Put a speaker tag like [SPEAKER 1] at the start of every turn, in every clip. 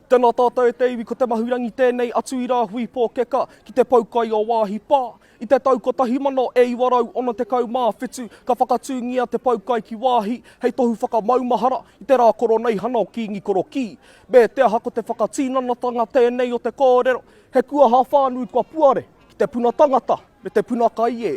[SPEAKER 1] Tēnā tātou e te iwi ko Te Mahurangi tēnei atu i Rāhui Pōkeka ki te pau kai o Waahi Pā. I te tau 1967 ka whakatūngia te pau kai ki Waahi hei tohu whakamaumahara i te rā koroneihana o Kīngi Korokī. Me te aha ko te whakatinanatanga tēnei o te kōrero he kuaha whānui kua puare. Ki te puna tangata me te puna kai e.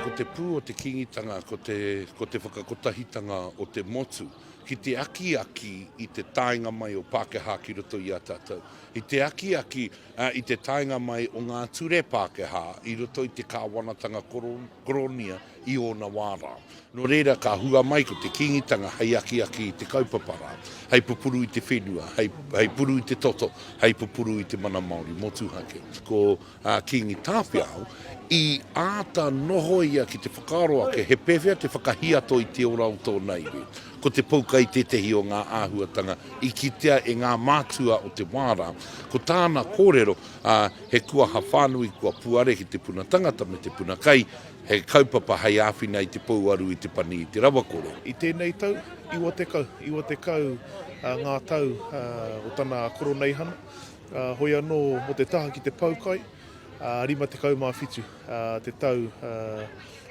[SPEAKER 2] Ko te pū o te Kīngitanga ko te, ko te whakakotahitanga o te motu ki te akiaki i te taenga mai o Pākehā ki roto i a tātou, i te akiaki I te taenga mai o ngā ture Pākehā i roto i te kāwanatanga koronia i ōna wā rā. Nō reira ka hua mai ko te Kīngitanga hei akiaki i te kaupapa rā, hei pupuru i te whenua, hei puru i te toto, hei pupuru i te mana Māori motuhake. Ko Kīngi Tāwhiao i āta nohoia ki te whakaaro ake he pēwhea te whakahiato i te ora o tōna iwi. Ko te poukai tētehi o ngā āhuatanga i kitea e ngā mātua o te wā rā. Ko tāna kōrero, ā, he kuaha whānui kua puare ki te puna tangata me te puna kai, he kaupapa hei āwhina i te pouaru i te pani i te rawakore. I tēnei tau,
[SPEAKER 3] iwa tekau, iwa tekau ngā tau o tana koroneihana, hoi anō mō te taha ki te poukai, rima tekau mā whitu. te tau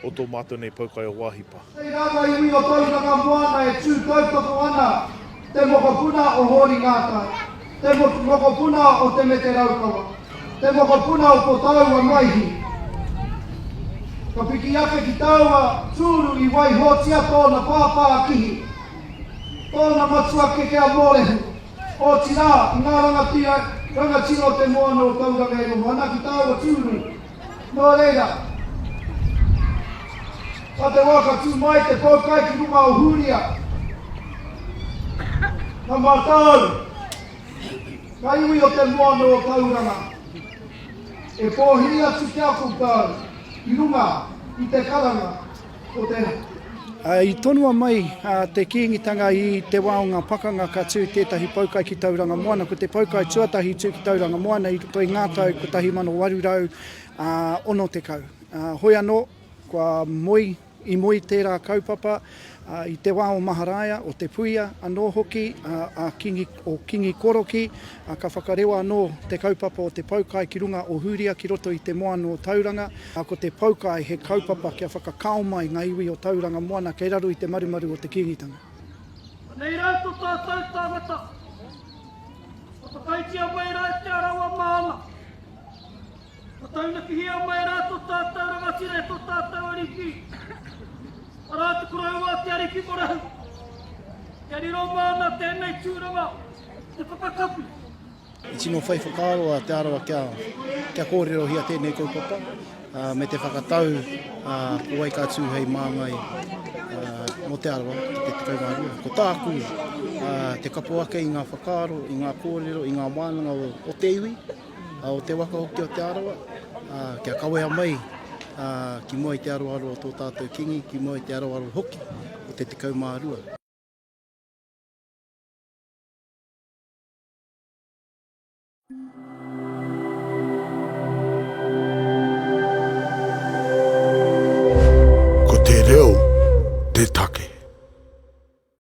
[SPEAKER 3] o tō mātou nei poukai o Wāhipa. Kei rāngai i ngā
[SPEAKER 4] tau whakamoana e tū tautoko ana te mokopuna o Hōri Ngātai, te mokopuna o Te Mete Raukawa, te mokopuna o ko tāua Maihi. Ka piki ake ki tāua tūru i waihotia tōna pāpākihi, tōna matua keke a Mōrehu. Otirā, ki ngā rangatira, rangatira o te moana o Tauranga e noho ana ki tāua tūru. Nō reira, nā te wā ka tū mai te poukai ki runga o Hūria, ka mātau ngā iwi o te moana o Tauranga e pōhiri atu ki a koutou i runga i te karanga. I
[SPEAKER 5] tonua mai te Kīngitanga i te wā o ngā pakanga ka tū tētahi poukai ki Tauranga Moana. Ko te poukai tuatahi i tū ki Tauranga Moana i roto i ngā tau 1860. Hoi anō, kua moe, i moe tērā kaupapa i te wā o Maharaia, o Te Puia anō hoki, a Kīngi. o Kingi Koroki, ā, ka whakarewa anō te kaupapa o te Poukai ki runga o Hūria ki roto i te moana o Tauranga, ā, ko te Poukai he kaupapa kia whakakao mai ngā iwi o Tauranga moana kei raro i te marumaru o te Kīngitanga. Anei
[SPEAKER 6] rā to tātou tāngata, ka whakaitia mai rā e Te Arawa Māna. Ka taunakihia mai rā tō tātou rangatira e tō tātou Ariki, arā, te koroua, te Ariki Morahu. Kia riro māna tēnei tūranga, te whakakapi. I tino
[SPEAKER 5] whai whakaaro a Te Arawa kia, kia kōrerohia tēnei kaupapa uh, me te whakatau uh, ko wai ka tū hei māngai uh, mō Te Arawa ki te tekau mā rua. Ko tāku uh, te kapo ake i ngā whakaaro, i ngā kōrero, i ngā wānanga o, o te iwi, o te waka hoki o Te Arawa, kia kawea mai ki mua i te aroaro o tō tātou Kīngi, ki mua i te aroaro hoki o te 12. Ko te reo te take.